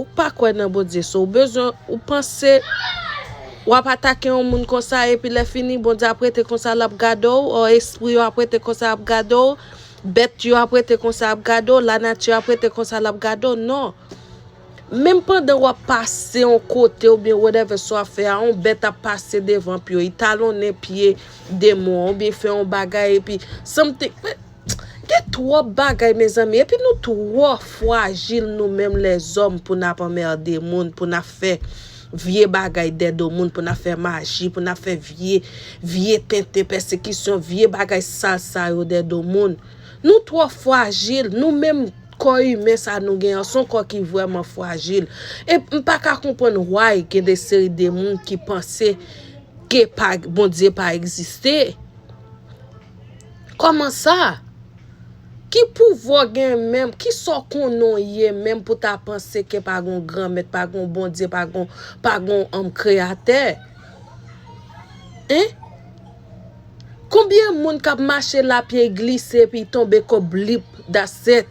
Ou pa kwè nan Bondye so ou bezwen ou panse wap atake yon moun konsa epi lè fini Bondye ap rete konsa lap gade w or espri yo ap rete konsa ap gade w bèt yo ap rete konsa ap gade w la nati ap rete konsa lap gade w non menm pandan wap pase yon kote ou byen whatever sa wap fè a yon bèt ap pase devan pye w li talonnen pye demon an ou byen fè yon bagay epi something. Gen twòp bagay mezanmi epi nou twò fwajil nou menm lèzòm pou nap anmerde moun pou nap fè vye bagay dè do moun pou nap fè maji pou nap fè vye vye tenten pèsekisyon vye bagay sal sa yo dè do moun nou twò fwajil nou menm kò imen sa nou gen an son kò ki vrèman fwajil e m pa ka konprann why gen de seri de moun ki panse ke pa Bondye pa egziste. Koman sa? Ki pouvwa w gen menm? Ki sa w konnen w ye menm pou ta panse ke pa gen yon Granmèt, pa gen yon Bondye, pa gen yon Kreyatè? Hein? Konbyen moun k ap mache la pye glise epi y tonbe kò blip, that's it.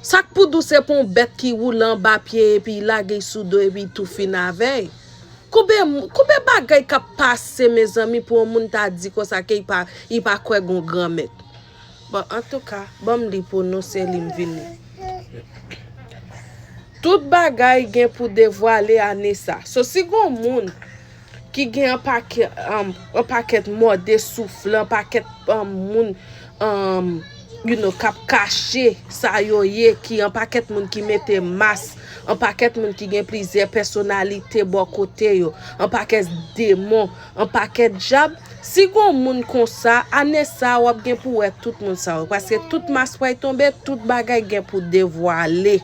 Sa k pou di w se pou yon bèt ki woule anba pye epi y lage y sou do epi tou fin avè y? Konbe konbe bagay kap pase mezanmi pou yon moun ta di konsa ke li pa kwè gon gran mèt bon antouka banm li pou nou se li m vin tout bagay gen pou devwale ane sa so si gon moun ki gen anpakèt mòde soufle anpakèt moun you know kap kache sa yo ye ki anpakèt moun ki mete mas anpakèt moun ki gen plizyè pèsonalite bò kote yo anpakèt demon anpakèt dyab si gon moun konsa ane sa wap gen pou wè tout moun sa yo paske tout mas pral tonbe tout bagay gen pou devwale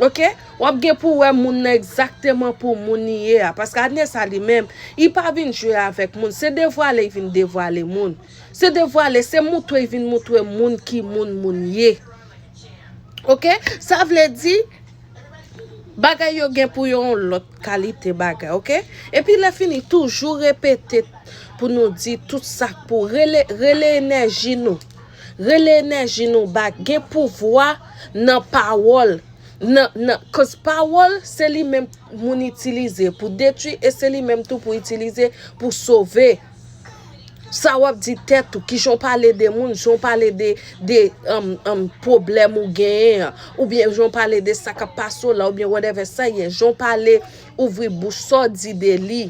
ok wap gen pou wè moun nan egzakteman pou moun li ye a paske ane sa li menm li pa vin jwe avèk moun se devwale li vin devwale moun. Se devwale, se moutwe vin moutwe moun ki moun moun ye. Ok, sa vle di, bagay yo gen pou yon lòt kalite bagay, ok. E pi lè fini, toujou repete pou nou di tout sa k pou rele, rele enèji nou. Rele enèji nou ba, gen pouvwa nan pawòl. Nan, nan, koz pawòl se li menm moun itilize pou detwi e se li menm tou pou itilize pou sove. Sa wap di tèt ou, kijan w pale de moun, jan w pale de pwoblèm ou genyen an, oubyen jan w pale de sa kap pase w la, oubyen whatever sa ye, jan w pale ouvri bouch, sa w di de li,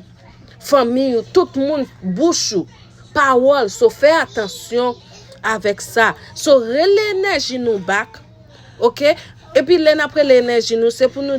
fanmi ou, tout moun, bouch ou, pawòl, so fè atansyon avèk sa. So rele enèji nou bak, ok, epi lè nap rele enèji nou, se pou nou.